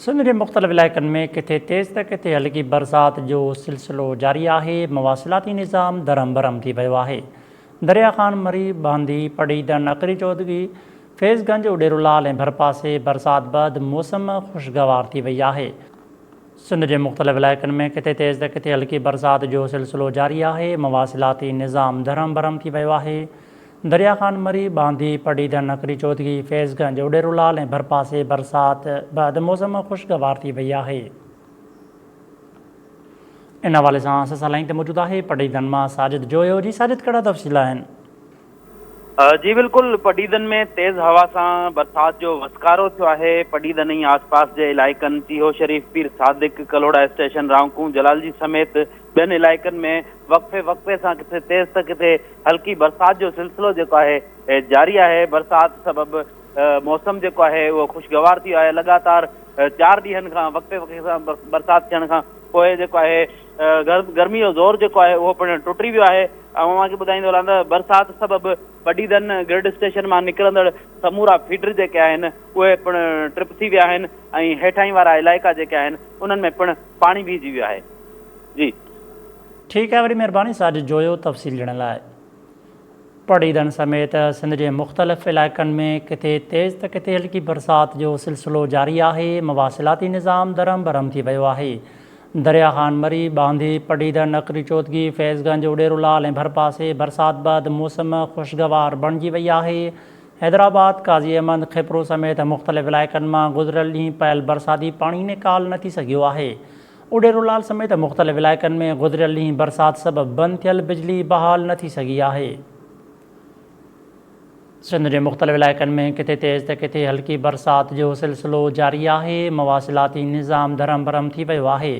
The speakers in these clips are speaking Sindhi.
سنڌ جي مختلف علائقن ۾ ڪٿي تيز ته ڪٿي هلڪي برسات جو سلسلو جاري آهي، مواصلاتي نظام درهم برهم ٿي پيو آهي، دريا خان مري، بهندي، پڙهيٽن، اڪري چوڌڳي، فيض گنج، اڏيرولال ۽ ڀرپاسي برسات بعد موسم خوشگوار ٿي وئي آهي. سنڌ جي مختلف علائقن ۾ ڪٿي تيز ته ڪٿي هلڪي برسات جو سلسلو جاري آهي، مواصلاتي نظام درهم برهم ٿي پيو آهي، دريا خان مري، ٻانڌي، پڙيدڙ نڪري چوڌڳي، فيض گنج، اوڏيرولال ۽ ڀرپاسي برسات به اڌ موسم خوشگوار ٿي وئي آهي. ان حوالي سان سسئي لائين تي موجود آهي پڙيدن مان ساجد جويو، جي ساجد ڪهڙا تفصيل آهن؟ جي بلڪل پڙيدن ۾ تيز هوا سان برسات جو وسڪارو ٿيو آهي، پڙيدن ۽ آس پاس جي علائقن، چيهو شريف، پير صادق، ڪلهوڙا اسٽيشن، رانڪون، جلالجي سميت ٻين علائقن ۾ وقفي وقفي سان ڪٿي تيز ته ڪٿي هلڪي برسات جو سلسلو جيڪو آهي جاري آهي برسات سبب موسم جيڪو آهي اهو خوشگوار ٿي ويو آهي لڳاتار چار ڏينهن کان وقفي وقفي سان برسات ٿيڻ کان پوء جيڪو آهي گرمي جو زور جيڪو آهي اهو پڻ ٽٽي ويو آهي ۽ اوهان کي ٻڌائيندو هلان ته برسات سبب وڏي دن گرڊ اسٽيشن مان نڪرندڙ سمورا فيڊر جيڪي آهن اهي پڻ ٽرپ ٿي ويا آهن ۽ هيٺاهين وارا علائقا جيڪي آهن انهن ۾ پڻ پاڻي بيهجي ويو آهي جي. ٺيڪ آهي وڏي مهرباني ساجد جويو تفصيل ڏيڻ لاء. پڙيدن سميت سنڌ جي مختلف علائقن ۾ ڪٿي تيز ته ڪٿي هلڪي برسات جو سلسلو جاري آهي، مواصلاتي نظام درهم برهم ٿي ويو آهي، درياهان مري، ٻانڌي، پڙيدن، نقري چوڌگي، فيض گنج، اڏيرو لال ۽ ڀرپاسي برسات بعد موسم خوشگوار بڻجي وئي آهي، حيدرآباد، قاضي احمد، خيپرو سميت مختلف علائقن مان گذريل ڏينهن پيل برساتي پاڻي نيڪال نه ٿي سگهيو آهي، اڊيرولال سميت مختلف علائقن ۾ گذريل ڏينهن برسات سبب بند ٿيل بجلي بحال نه ٿي سگهي آهي. سنڌ جي مختلف علائقن ۾ ڪٿي تيز ته ڪٿي هلڪي برسات جو سلسلو جاري آهي، مواصلاتي نظام درهم برهم ٿي ويو آهي،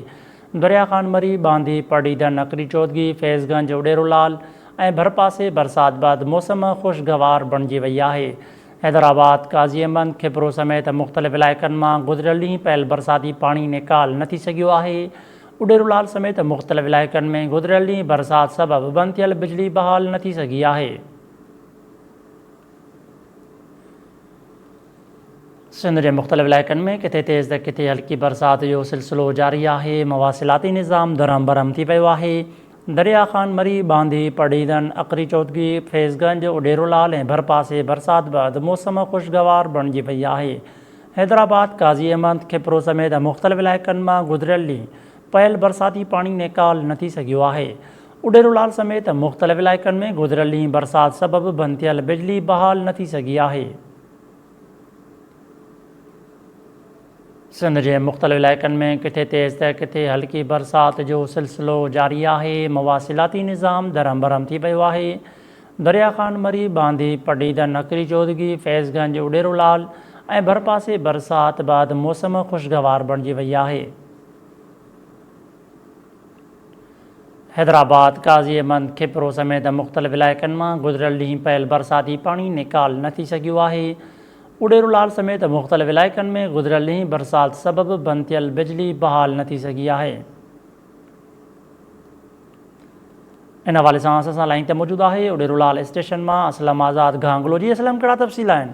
دريا خان مري، ٻانڌي، پڙڙيدن، نڪري چوڌڳي، فيض گنج، اڏيرولال ۽ ڀرپاسي برسات بعد موسم خوشگوار بڻجي وئي آهي، حيدرآباد، قاضي احمد، کپرو سميت مختلف علائقن مان گذريل ڏينهن پيل برساتي پاڻي نيڪال نه ٿي سگهيو آهي، اڏيرولال سميت مختلف علائقن ۾ گذريل ڏينهن برسات سبب بند ٿيل بجلي بحال نه ٿي سگهي آهي. سنڌ جي مختلف علائقن ۾ ڪٿي تيز ته ڪٿي هلڪي برسات جو سلسلو جاري آهي، مواصلاتي نظام درهم برهم ٿي پيو آهي، دريا خان مري، باندي، پڙهيدن، اڪري چوڌڪي، فيض گنج، اڍيرو لال ۽ ڀرپاسي برسات بعد موسم خوشگوار بڻجي وئي آهي. حيدرآباد، قاضي احمد، کپرو سميت مختلف علائقن مان گذريل ڏينهن پيل برساتي پاڻي نيڪال نه ٿي سگهيو آهي. اڍيرو لال سميت مختلف علائقن ۾ گذريل ڏينهن برسات سبب بند ٿيل بجلي بحال نه ٿي سگهي آهي. سنڌ جي مختلف علائقن ۾ ڪٿي تيز ته ڪٿي هلڪي برسات جو سلسلو جاري آهي، مواصلاتي نظام درهم برهم ٿي پيو آهي، دريا خان مري، باندي، پڊعيدن، نڪري چوڌگي، فيض گنج، اڏيرولعل ۽ ڀرپاسي برسات بعد موسم خوشگوار بڻجي وئي آهي. حيدرآباد، قاضي احمد، کپرو سميت مختلف علائقن مان گذريل ڏينهن پيل برساتي پاڻي نيڪال نه ٿي سگهيو آهي، اڙيرو لال سميت مختلف علائقن ۾ گذريل ڏينهن برسات سبب بند ٿيل بجلي بحال نه ٿي سگهي آهي. ان حوالي سان اسان سان لائين تي موجود آهي اڙيرو لال اسٽيشن مان اسلم آزاد گهانگلو جي اسلم ڪهڙا تفصيل آهن.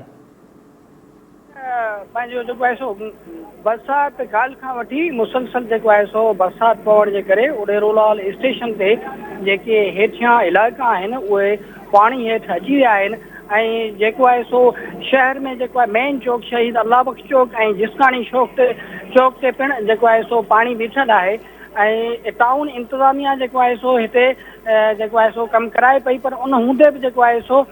پنهنجو جيڪو آهي سو برسات ڪالهه کان وٺي مسلسل جيڪو آهي سو برسات پوڻ جي ڪري اڏيرولال اسٽيشن تي جيڪي هيٺيان علائقا آهن اهي پاڻي هيٺ اچي ويا آهن ۽ جيڪو آهي سو شهر ۾ جيڪو آهي مين چوڪ شهيد الله بخش چوڪ ۽ جسڪاڻي شوق تي چوڪ تي پڻ جيڪو آهي سو پاڻي بيٺل آهي ۽ ٽائون انتظاميا جيڪو آهي سو هتي جيڪو آهي سو ڪم ڪرائي پئي پر ان هوندي به جيڪو آهي سو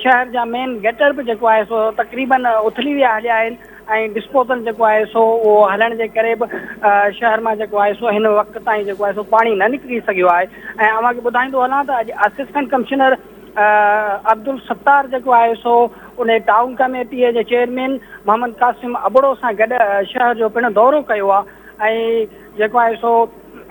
شهر جا مين گٽر به جيڪو آهي سو تقريبن اٿلي ويا هليا آهن ۽ ڊسپوزل جيڪو آهي سو اهو هلڻ جي ڪري به شهر مان جيڪو آهي سو هن وقت تائين جيڪو آهي سو پاڻي نه نڪري سگهيو آهي ۽ اوهان کي ٻڌائيندو هلان ته اڄ اسسٽنٽ ڪمشنر عبدالستار جيڪو آهي سو ان ٽائون ڪميٽي جي چيئرمين محمد قاسم ابڙو سان گڏ شهر جو پڻ دورو ڪيو آهي ۽ جيڪو آهي سو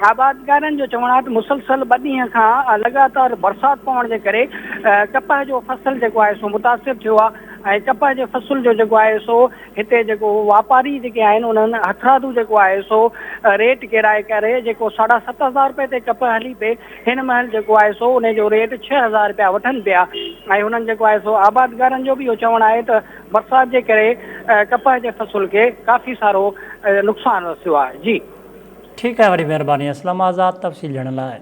آبادگارن جو چوڻ آهي ته مسلسل ٻه ڏينهن کان لڳاتار برسات پوڻ جي ڪري ڪپهه جو فصل جيڪو آهي سو متاثر ٿيو آهي ۽ ڪپهه جي فصل جو جيڪو آهي سو هتي جيڪو واپاري جيڪي آهن انهن هٿرادو جيڪو آهي سو ريٽ ڪيرائي ڪري جيڪو ساڍا ست هزار روپئي تي ڪپهه هلي پئي هن مهل جيڪو آهي سو ان جو ريٽ ڇهه هزار روپيا وٺن پيا ۽ هنن جيڪو آهي سو آبادگارن جو به اهو چوڻ آهي ته برسات جي ڪري ڪپهه جي فصل کي ڪافي سارو نقصان رسيو آهي جي ٺيڪ آهي وڏي مهرباني اسلم آزاد تفصيل ڏيڻ لاء.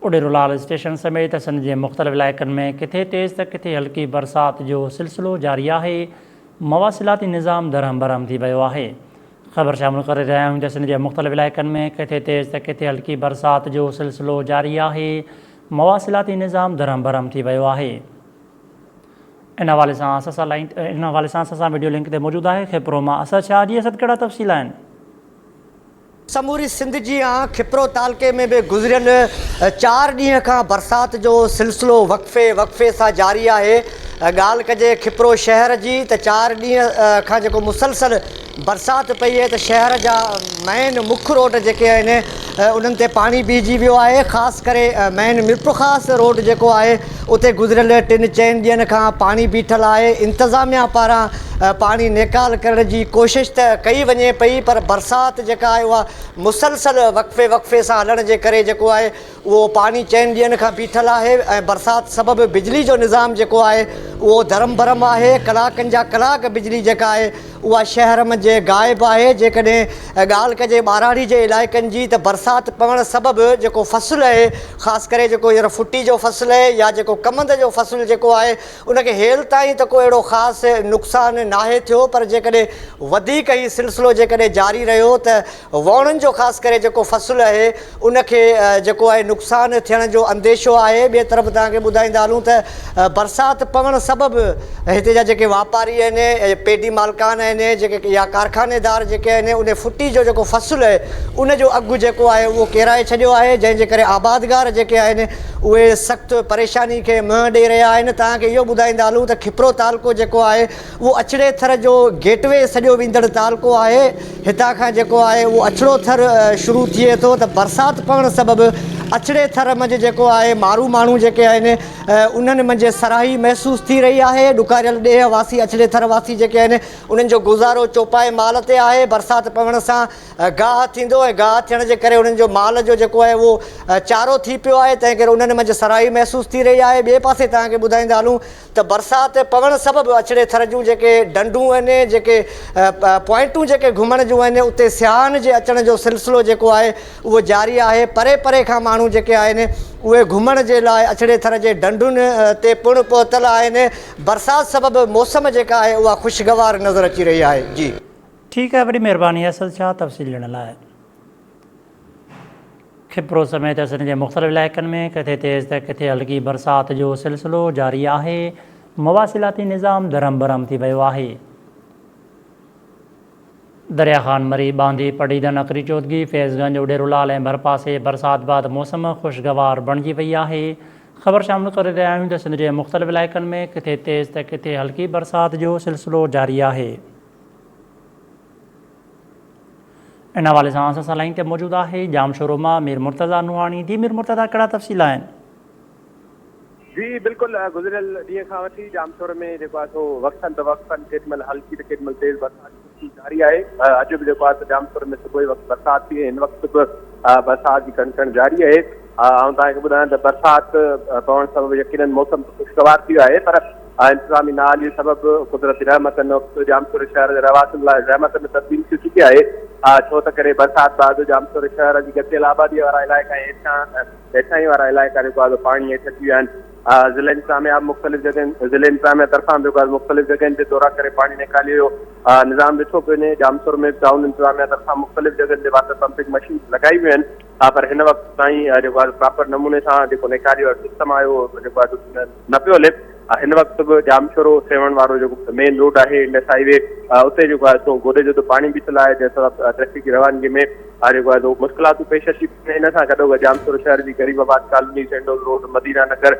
اڏيرولال اسٽيشن سميت سنڌ جي مختلف علائقن ۾ ڪٿي تيز ته ڪٿي هلڪي برسات جو سلسلو جاري آهي، مواصلاتي نظام درهم برهم ٿي ويو آهي. خبر شامل ڪري رهيا آهيون ته سنڌ جي مختلف علائقن ۾ ڪٿي تيز ته ڪٿي هلڪي برسات جو سلسلو جاري آهي، مواصلاتي نظام درهم برهم ٿي ويو آهي. ان حوالي سان اسد شاهه لائين ان حوالي سان اسد سان وڊيو لنڪ تي موجود آهي خيپرو مان اسد شاهه جي اسد ڪهڙا تفصيل آهن. سموري سنڌ جيان خيپرو تعلقي ۾ به گذريل چار ڏينهن کان برسات جو سلسلو وقفي وقفي سان جاري آهي ڳالهه ڪجي خيپرو شهر جي ته چار ڏينهن کان جيڪو مسلسل برسات پئي اهي ته شهر جا مين مک روڊ جيڪي آهن انهن تي پاڻي بيهجي ويو آهي خاص ڪري مين ميرپورخاص روڊ جيڪو آهي اتي گذريل ٽن چئن ڏينهن کان پاڻي بيٺل آهي انتظاميا پاران پاڻي نيڪال ڪرڻ جي ڪوشش ته ڪئي وڃي پئي پر برسات جيڪا آهي اها مسلسل وقفي وقفي سان هلڻ جي ڪري جيڪو آهي اهو پاڻي چئن ڏينهن کان بيٺل آهي ۽ برسات سبب بجلي جو نظام جيڪو آهي اهو ڌرم برم آهي ڪلاڪن جا ڪلاڪ بجلي جيڪا آهي اها شهر منجهه غائب آهي جيڪڏهن ڳالهه ڪجي ٻاراڙي جي علائقن جي ته برسات پوڻ سبب جيڪو فصل اهي خاص ڪري جيڪو هينئر ڦٽي جو فصل اهي يا جيڪو ڪمند جو فصل جيڪو آهي ان کي هيل تائين ته ڪو اهڙو خاص نقصان ناهي ٿيو پر جيڪڏهن وڌيڪ هي سلسلو جيڪڏهن جاري رهيو ته ووڻن جو خاص ڪري جيڪو فصل اهي ان کي جيڪو آهي نقصان ٿيڻ جو انديشو آهي ٻئي طرف توهان کي ٻڌائيندا هلون ته برسات پوڻ سبب هتي جا جيڪي واپاري آهن پيڊي مالڪان آهن جيڪي يا ڪارخاني دار جيڪي آهن ان ڦٽي جو جيڪو فصل اهي ان جو اگهه جيڪو آهي اهو ڪيرائي ڇڏيو آهي جنهن جي ڪري آبادگار جيڪي آهن اهي سخت پريشاني کي منهن ڏئي رهيا آهن توهان کي اهو ٻڌائيندا هلون ته کپرو تعلقو جيڪو آهي اهو اڇڙي ٿر جو گيٽ وي سڏيو ويندڙ تعلقو آهي. هتان کان جيڪو آهي اهو اڇڙو ٿر شروع ٿئي ٿو ته برسات پوڻ سبب اڇڙي ٿر منجهه جيڪو آهي مارو ماڻهو جيڪي آهن انهن منجهه سرهائي محسوس ٿي رهي آهي. ڏڪاريل ڏيهه واسي اڇڙي ٿر واسي جيڪي آهن انهن جو گذارو چوپائي مال تي آهي. برسات پوڻ سان گاهه ٿيندو ۽ گاهه ٿيڻ جي ڪري انهن جو مال جو جيڪو آهي اهو چارو ٿي پيو آهي تنهن ڪري انهن منجهه سرهائي محسوس ٿي رهي آهي. ٻئي پاسي توهان کي ٻڌائيندا هلون ته برسات پوڻ سبب اڇڙي ٿر جون جيڪي ڍنڍون آهن، جيڪي پوائنٽون جيڪي گهمڻ جون آهن اتي سياحن جي اچڻ جو سلسلو جيڪو آهي اهو جاري آهي، پري پري کان ماڻهو جيڪي آهن اهي گهمڻ جي لاء اڇڙي ٿر جي ڍنڍن تي پڻ پهتل آهن، برسات سبب موسم جيڪا آهي اها خوشگوار نظر اچي رهي آهي. جي. ٺيڪ آهي وڏي مهرباني اسد شاهه تفصيل ڏيڻ لاء. خپرو سميت سنڌ جي مختلف علائقن ۾ ڪٿي تيز ته ڪٿي هلڪي برسات جو سلسلو جاري آهي، مواصلاتي نظام درهم برهم ٿي ويو آهي. دريا خان مري، ٻانڌي، پڊهيدن، اڪري چوڌڳي، فيض گنج، اڏيرولال ۽ ڀرپاسي برسات بعد موسم خوشگوار بڻجي وئي آهي. خبر شامل ڪري رهيا آهيون ته سنڌ جي مختلف علائقن ۾ ڪٿي تيز ته ڪٿي هلڪي برسات جو سلسلو جاري آهي. ان حوالي سان اسان سان لائين تي موجود آهي ڄام شورو مان مير مرتضيٰ نوحاڻي جي مير مرتضيٰ ڪهڙا تفصيل آهن. جي بلڪل گذريل ڏينهن کان وٺي ڄام شورو ۾ جيڪو آهي سو وقتن به وقتن ڪيڏمهل هلڪي ته ڪيڏمهل تيز برسات جو سلسلو جاري آهي اڄ به جيڪو آهي سو ڄام شورو ۾ صبح وقت برسات ٿي هن وقت به برسات جي ڪڻ ڪڻ جاري آهي آئون توهان کي ٻڌايان ته برسات پوڻ سبب يقينن موسم خوشگوار ٿي ويو آهي پر اها انتظامي نااهلي سبب قدرتي رحمت هن وقت ڄامشوري شهر جي رهواسين لاء زحمت ۾ تبديل ٿي چڪي آهي ڇو ته ڪري برسات بعد ڄامشوري شهر جي ڳتيل آبادي وارا علائقا ۽ هيٺان هيٺاهين وارا علائقا جيڪو آهي پاڻي هيٺ اچي ويا آهن ضلع انتظاميا مختلف جڳهين ضلع انتظاميا طرفان به مختلف جڳهين تي دورا ڪري پاڻي نيڪالي ويو نظام ڏٺو پيو وڃي ڄامشور ۾ ٽائون انتظاميا طرفان مختلف جڳهين تي واٽر پمپنگ مشينز لڳائي ويون آهن ها پر هن وقت تائين جيڪو آهي پراپر نموني سان جيڪو نيڪاري وارو سسٽم آهي اهو جيڪو آهي نه پيو هلي هن وقت به ڄامشورو سيوهڻ وارو جيڪو مين روڊ آهي انڊس هاء وي اتي جيڪو آهي سو گوڏي جو پاڻي بيٺل آهي جنهن سبب ٽريفڪ جي روانگي ۾ جيڪو آهي سو مشڪلاتون پيش اچي ان سان گڏو گڏ ڄامشورو شهر جي غريب آباد ڪالوني سينڊول روڊ مدينه نگر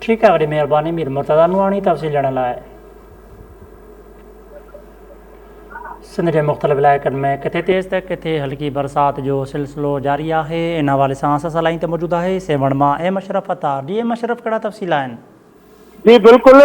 ٺيڪ آهي وڏي مهرباني مير مرتضيٰ نوراني تفصيل ڏيڻ لاء. سنڌ جي مختلف علائقن ۾ ڪٿي تيز ته ڪٿي هلڪي برسات جو سلسلو جاري آهي ان حوالي سان اسان سان لائين تي موجود آهي سيوهڻ مان ايم اشرف اطهار جي ايم اشرف ڪهڙا تفصيل آهن. جي بلڪل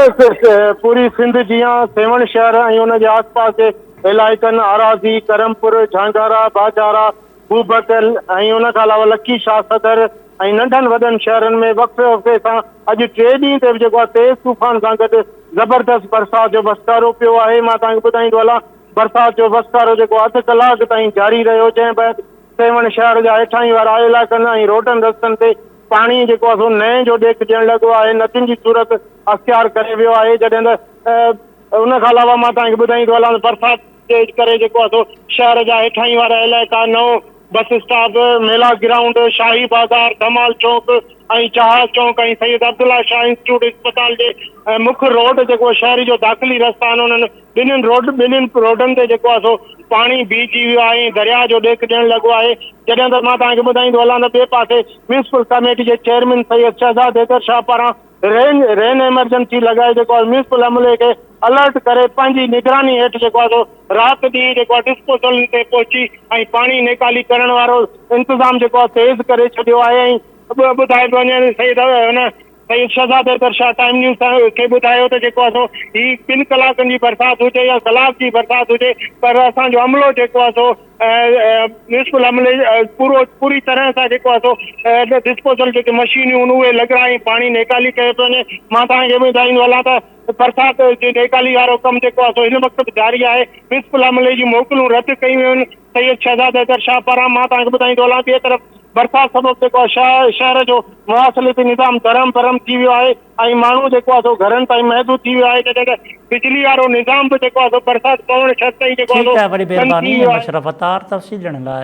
پوري سنڌ جيان سيوهڻ شهر ۽ ان جي آس پاس جي علائقن آراضي، ڪرم پور، جهانگارا، باجارا، بوبڪل ۽ ان کان علاوه لڪي شاهه صدر، ۽ ننڍن وڏن شهرن ۾ وقفي وقفي سان اڄ ٽي ڏينهن تي به جيڪو آهي تيز طوفان سان گڏ زبردست برسات جو وسڪارو پيو آهي مان توهان کي ٻڌائيندو هلان برسات جو وسڪارو جيڪو آهي اڌ ڪلاڪ تائين جاري رهيو جنهن بعد سيوهڻ شهر جا هيٺاهين وارا علائقن ۽ روڊن رستن تي پاڻي جيڪو آهي سو نئين جو ڏيک ڏيڻ لڳو آهي ندين جي صورت اختيار ڪري ويو آهي جڏهن ته ان کان علاوه مان توهان کي ٻڌائيندو هلان ته برسات گيٽ ڪري جيڪو آهي سو شهر جا هيٺاهين وارا علائقا، نئون بس اسٽاپ، ميلا گرائونڊ، شاهي بازار، ڌمال چوڪ ۽ جهاز چوڪ ۽ سيد عبدالله شاهه انسٽيٽيوٽ اسپتال جي مک روڊ جيڪو شهر جو داخلي رستا آهن انهن ٻنهين روڊ ٻنهين روڊن تي جيڪو آهي سو پاڻي بيهجي ويو آهي ۽ درياء جو ڏيک ڏيڻ لڳو آهي جڏهن ته مان توهان کي ٻڌائيندو هلان ته ٻئي پاسي ميونسپل ڪميٽي جي چيئرمين سيد شهزاد حيدر شاهه پاران رين رين ايمرجنسي لڳائي جيڪو آهي ميونسپل عملي کي الرٽ ڪري پنهنجي نگراني هيٺ جيڪو آهي سو رات ڏينهن جيڪو آهي ڊسپوزل تي پهچي ۽ پاڻي نيڪالي ڪرڻ وارو انتظام جيڪو آهي تيز ڪري ڇڏيو آهي ۽ ٻيو ٻڌائي وڃي سيد هن سيد شهزاد حيدر شاهه ٽائيم نيوز سان کي ٻڌايو ته جيڪو آهي سو هي ٻن ڪلاڪن جي برسات هجي يا ڪلاڪ جي برسات هجي پر اسان جو عملو جيڪو آهي سو نصف الحمل پورو پوري طرح سان جيڪو آهي سو ڊسپوزل جيڪي مشينيون آهن اهي لڳرائي پاڻي نيڪالي ڪيو پيو وڃي مان توهان کي ٻڌائيندو هلان ته برسات جي نيڪالي وارو ڪم جيڪو آهي سو هن وقت به جاري آهي نصف الحمل جي موڪلون رد ڪيون ويون آهن سيد شهزاد حيدر شاهه پاران مان توهان کي ٻڌائيندو هلان ٻئي طرف برسات سبب جيڪو آهي شهر جو مواصلاتي نظام درهم برهم ٿي ويو آهي ۽ ماڻهو جيڪو آهي سو گهرن تائين محدود ٿي ويو آهي جڏهن ته بجلي وارو نظام به جيڪو آهي سو برسات پوڻ شرط تائين جيڪو آهي سو ٺيڪ آهي وڏي بند ٿي مھرباني ويو آهي. مشرف عطار تفصيل ڏيڻ لاء.